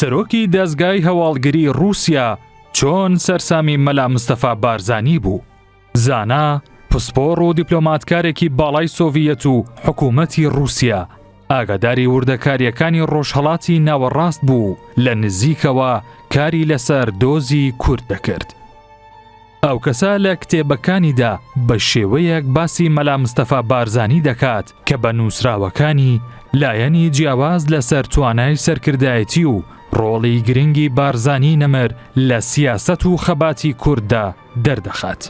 سەرۆکی دەزگای هەواڵگری ڕووسیا چۆن سەرسامی مەلا مستەفا بارزانی بوو زانا پسپۆڕ و دیپلۆماتکارێکی باڵای سۆڤیەت و حکوومەتی ڕووسیا ئاگاداری وردەکاریەکانی ڕۆژهڵاتی ناوەڕاست بوو لە نزیکەوە کاری لەسەر دۆزی کورد دەکرد. ئەو کەسە لە کتێبەکانیدا بە شێوەیەک باسی مەلا مستەفا بارزانی دەکات کە بە نووسراوەکانی لایەنی جیاواز لەسەر توانای سەرکردایەتی و ڕۆڵی گرنگی بارزانی نەمر لە سیاسەت و خەباتی کورددا دەردەخات.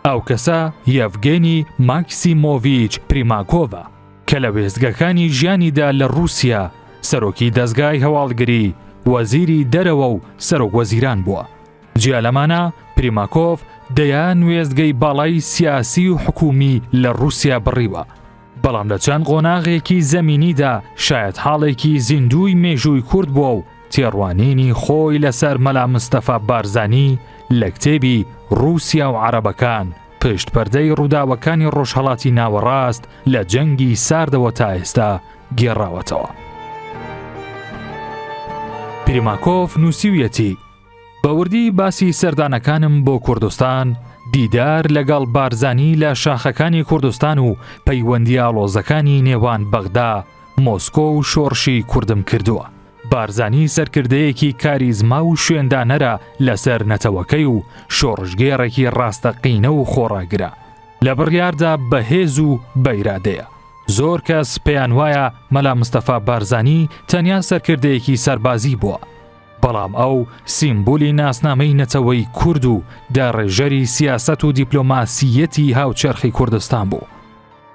ئەو کەسە یەڤگێنی ماکسیمۆڤیچ پریماکۆڤە کە لە وێستگەکانی ژیانیدا لە ڕووسیا سەرۆکی دەزگای هەواڵگری، وەزیری دەرەوە و سەرۆک وەزیران بووە. جیا لەمانە پریماکۆڤ دەیان وێستگەی باڵای سیاسی و حکومی لە رووسیا بڕیوە بەڵام لە چەند قۆناغێکی زەمینیدا شاید حاڵێکی زیندوی مێژووی کورد بووە و تێڕوانینی خۆی لەسەر مەلا مستەفا بارزانی لە کتێبی رووسیا و عربەکان پشت پەردەی ڕووداوەکانی ڕۆژهڵاتی ناوەڕاست لە جەنگی ساردەوە تا ئێستا گێڕاوەتەوە. پریماکۆف نووسیویەتی بە وردی باسی سەردانەکانم بۆ کوردستان، دیدار لەگەڵ بارزانی لە شاخەکانی کوردستان و پەیوەندی ئاڵۆزەکانی نێوان بەغدا، مۆسکۆ و شۆڕشی کوردم کردووە. بارزانی سەرکردەیەکی کاریزما و شوێندانەرە لەسەر نەتەوەکەی و شۆڕشگێڕێکی ڕاستەقینە و خۆڕاگرە. لە بڕیاردا بەهێز و بەئیرادەیە. زۆر کەس پێیان وایە مەلا مستەفا بارزانی تەنیا سەرکردەیەکی سەربازی بووە. بەڵام ئەو سیمبولی ناسنامەی نەتەوەی کورد و داڕێژەری سیاست و دیپلۆماسیەتی هاوچەرخی کوردستان بوو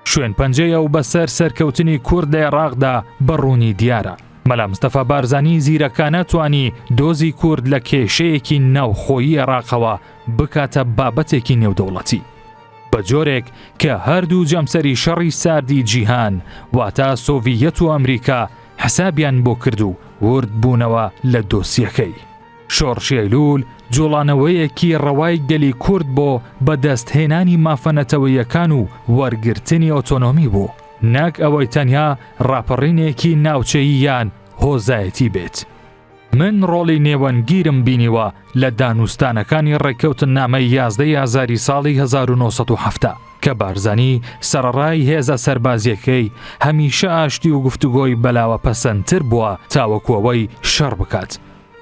شوێن پەنجەیە و بەسەر سەرکەوتنی کورد لە عێراقدا بەڕوونی دیارە مەلامستەفا بارزانی زیرەکانە توانی دۆزی کورد لە کێشەیەکی ناوخۆیی عێراقەوە بکاتە بابەتێکی نێودەوڵەتی بە جۆرێک کە هەردوو جەمسەری شەڕی ساردی جیهان واتا سۆڤیەت و ئەمریکا حسابیان بۆ کرد و ورد بوونەوە لە دۆسیەکەی. شۆڕشی ئەیلول جوڵانەوەیەکی ڕەوای گەلی کورد بۆ بەدەستهێنانی مافە نەتەوەیەکان و وەرگرتنی ئۆتۆنۆمی بوو، نەک ئەوەی تەنیا ڕاپەڕینێکی ناوچەیی یان هۆزایەتی بێت. من ڕۆڵی نێوەندگیرم بینیوە لە دانوستانەکانی ڕێککەوتننامەی یازدەی ئازاری ساڵی 1970 کە بارزانی سەرەڕای هێزە سەربازیەکەی هەمیشە ئاشتی و گفتوگۆی بەلاوە پەسەندتر بووە تاوەکوەوەی شەڕ بکات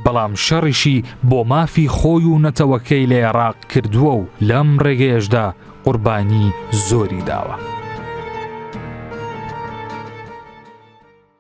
بەڵام شەڕیشی بۆ مافی خۆی و نەتەوەکەی لە عێراق کردووە و لەم ڕێگەیەشدا قوربانی زۆری داوە.